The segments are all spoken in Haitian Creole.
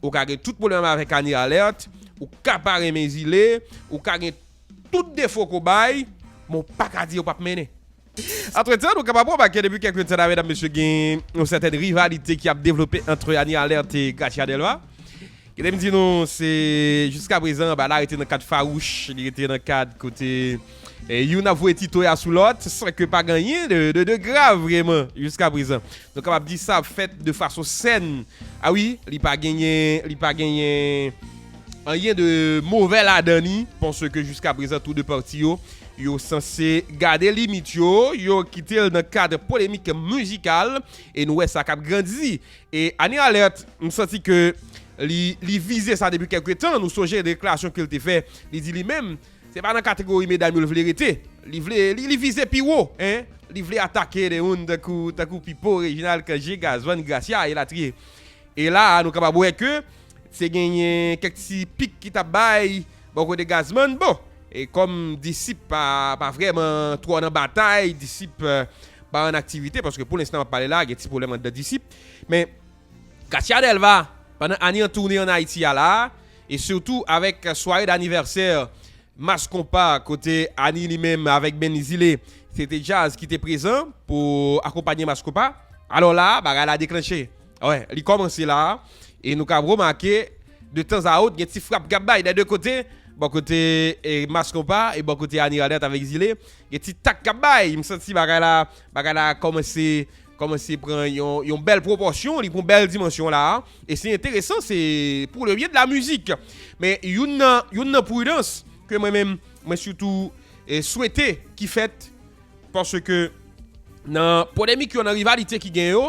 Ou ka gen tout pwoblèm avèk Annie Alert, ou ka pa renmen Zile, ou ka gen tout defo ke w bay, men ou pa ka di yo pap mennen. Antretan, nou kapab remake depi kèlke tan la medam mesye gen yon sètèn rivalite ki ap devlope antre Annie Alert e Gracia Delva. Kite m di nou se jiska prezan, bagay la rete nan kad fawouch, li rete nan kad kote. Youn ap voye tito ya sou lòt san ke pa ganyen de grav vreman jiska prezan. Nou kapab di sa ap fèt de fason sèn. A wi, li pa genyen, li pa genyen anyen de movè ladan ni paske jiska prezan tou de pati yo, yo sanse gade limit yo, yo kite l nan kad polemik mizikal e nou wè sa k ap grandi. E Annie Alerte, m santi ke li vize sa depi kèlke tan. Nou sonje deklarasyon ke l te fè, li di li menm. Se pa nan kategori medam yo li vle rete. Li vle, li vize pi wo, hein. Li vle atake de moun tankou, tankou Pipo, Reginald, Cangé, Gazman, Gracia, elatriye. E la a nou kapab wè ke te genyen kèk ti pik ki tap bay bò kote Gazman. Bon, e kòm Disip pa, pa vrèman twò nan batay, Disip pa an aktivite, paske pou lenstan map pale la a gen ti pwoblèm anndan Disip. Men. Katia Delva, pandan ane an toune an Ayiti a la a, e sitou avèk sware danivèsè Mass Konpa kote Annie li menm avèk Benny Zile se te djaz ki te prezan pou akonpanye Mass Konpa. Alò la a, bagay la deklanche. Wè, li kòmanse la a e nou kab remake de tan a ot gen ti frap k ap bay dè de kote, bò kote Mass Konpa e bò kote Annie Radert avèk Zile, gen ti tak k ap bay. M santi bagay la, bagay la kòmanse Kòmanse pran yon bèl pwopòsyon, li pran bèl dimansyon la a, e se enteresan, se pou le byen de la mizik. Men youn nan, youn nan pridans ke mwen menm mwen sitou swete ki fèt, paske nan polemik yo, nan rivalite ki gen yo,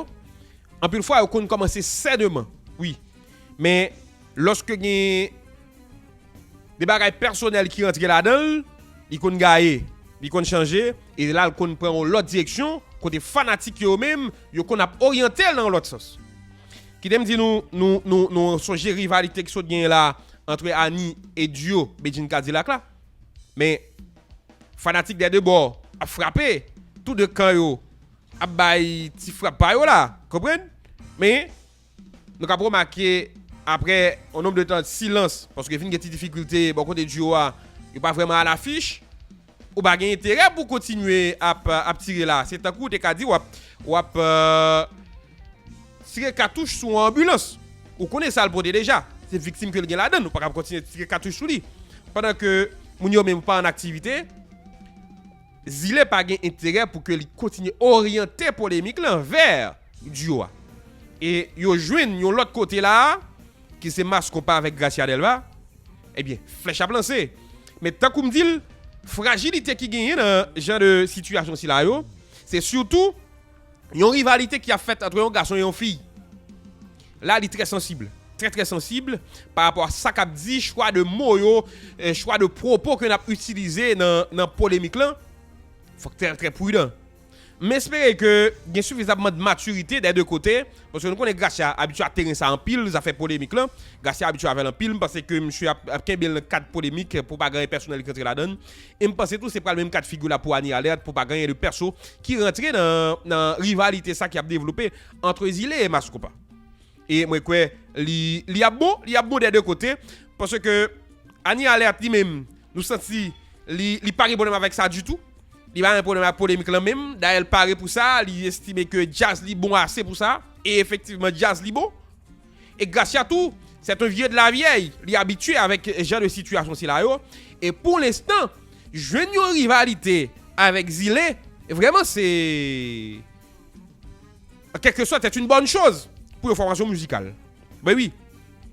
anpil fwa yo konn kòmanse sèdeman, wi, men lòske gen. De bagay pèsonèl ki rantre ladan l, li konn gaye, li konn chanje, e la l konn pran yon lòt direksyon kote fanatik yo yo menm yo konn ap oryante l nan yon lòt sans. Kite m di nou, nou, nou, nou sonje rivalite ki sot genyen la antre Annie e duo Bedjine Cadillac la. Men, fanatik dè 2 bò ap frape, tou 2 kan yo ap bay ti frap pa yo la, konprann? Men, Nou kab remake aprè yon nonb de tan silans paske vin gen ti difikilte bò kote duo a yo pa vrèman a l'affiche ou pa gen enterè pou kontinye ap tire la se tankou ou te ka di wap wap tire katouch sou yon anbilans ou konnen sal pote deja se viktim ke li gen ladann ou pa kab kontinye tire katouch sou li pandan ke moun yo menm pa an aktivite Zile pa gen enterè pou ke li kontinye oryante polemik lan vè. Duo a. E yo jwenn yon lòt kote la a, ki se Mass Konpa avèk Gracia Delva, ebyen flèch ap lanse. Men tankou m di l, frajilite ki genyen nan jan de sitiyasyon sila yo, se sitou yon rivalite ki ap fèt antre yon gason e yon fi. La li trè sansib, trè trè sansib pa rapò a sa k ap di, chwa de mo yo, chwa de pwopo ke n ap itilize nan polemik lan. Fòk trè pridan. M espere ke gen sifizamman de matirite dè 2 kote, paske nou konnen Gracia abitye a teren sa anpil, zafè polemik lan, Gracia abitye avè l anpil, m panse ke misye ap kenbe l nan kad polemik pou pa gen anyen pèsonèl ki rantre ladan l, e m panse tou se pral menm kad figi la pou Annie Alerte pou pa gen anyen de pèso ki rantre nan rivalite sa ki ap devlope antre Zile e Mass Koupa. E mwen kwè li li ap bon, li ap bon dè 2 kote. Pase ke Anie Alerte li menm, nou santi li li pa gen pwoblèm avèk sa ditou. Li pa gen pwoblèm ak polemik lan menm. Dayè l pare pou sa, li estime ke djaz li bon ase pou sa. E efektivman djaz li bon. E Gracia tou, c'est un vieux de la vieille, li abitye avèk jan de sitiyasyon sila yo. E pou lenstan, jwenn yon rivalite avèk Zile, vrèman se. En quelque sorte, c'est une bonne chose pou yon formation musicale. Ben oui,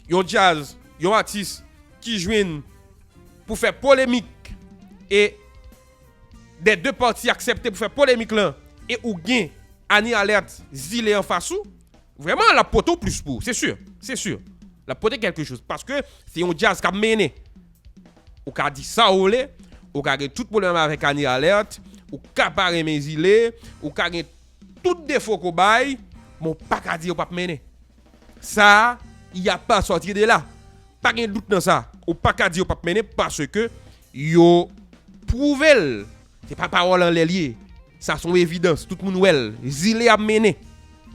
yon jazz, yon artiste ki jwenn pou fè polemik e des deux parties aksepte pou fè polemik lan e ou gen Annie Alerte zile anfas ou, vrèman l'ap pote yon plus pou ou, c'est sûr, c'est sûr. L'ap pote quelque chose paske se yon jazz k'ap mennen. Ou ka di sa ou vle, ou ka gen tout pwoblèm avèk Annie Alerte, ou ka pa renmen Zile, ou ka gen tout defo ke w bay, men w pa ka di yo p ap mennen. Sa, il y a pas à sortir de là. Pa gen dout nan sa. Ou pa ka di yo p ap mennen paske yo pwouve l. Se pa pawòl anlè l ye. Sa se yon evidans, tout moun wè l. Zile ap mennen.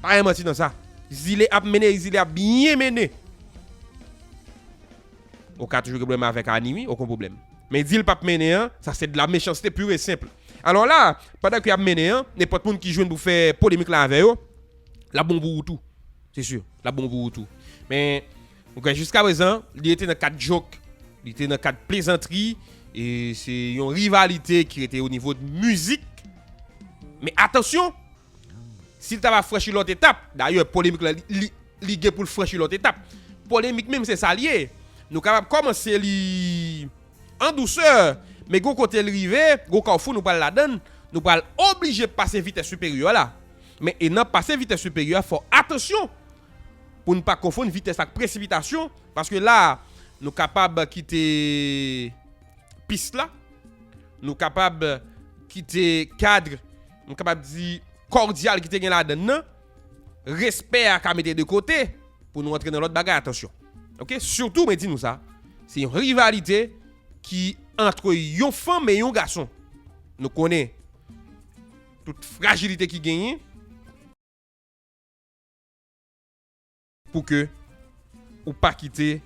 Pa gen manti nan sa. Zile ap mennen e Zile ap byen mennen. Ou ka toujou gen problème avèk Annie wi, oken problème. Men di l pap mennen an, sa se de la mechanste pure et simple. Alors la, pandan ke yap mennen an, nenpòt moun ki jwenn pou fè polemik la avè yo, lap bon pou ou tou. Se sûr, lap bon pou ou tou. Men, ou kwè jiska prezan, li rete nan kad joke, li te nan kad plezantri, e se yon rivalite ki rete o nivo de mizik. Men atansyon! Si l ta va franchi lòt etap, dayè polemik la li gen pou l franchi lòt etap. Polemik menm se sa l ye. Nou kapab kòmanse li an dousè, men gen yon kote l rive, gen yon kawfou nou pral ladan l, nou pral oblije pase vitès siperyè la. Men e nan pase vitès siperyè a fò atansyon pou n pa konfonn vitès ak presipitasyon paske la a nou kapab kite pis la, nou kapab kite kadr. m kapab di, kòdyal ki te gen ladan l nan, respè a ka mete de kote pou nou antre nan lòt bagay, atansyon. Ok, sitou mwen di nou sa, se yon rivalite ki antre yon fanm e yon gason. Nou konnen tout frajilite ki genyen. pou ke ou pa kite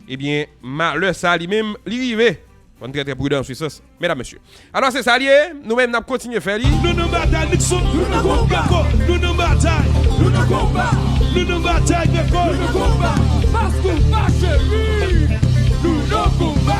ebyen malè sa li menm li rive. Fòn trè trè prudan sou sa medam mesye. Alò se sa li ye nou menm nap kontinye fè li. Nou nan batay Luckson, nou nan konba Nou nan batay, nou nan konba Nou nan batay Greco, nou nan konba Fast Konpa cheri, nou nan konba.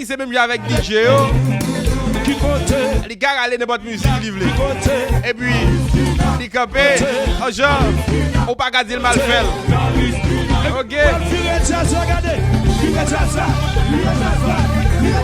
Li se menm jan avèk DJ yo. Li ka rale nenpòt mizik li vle. Epi, li kanpe, an jan, ou pa ka di l mal fè l. Ok.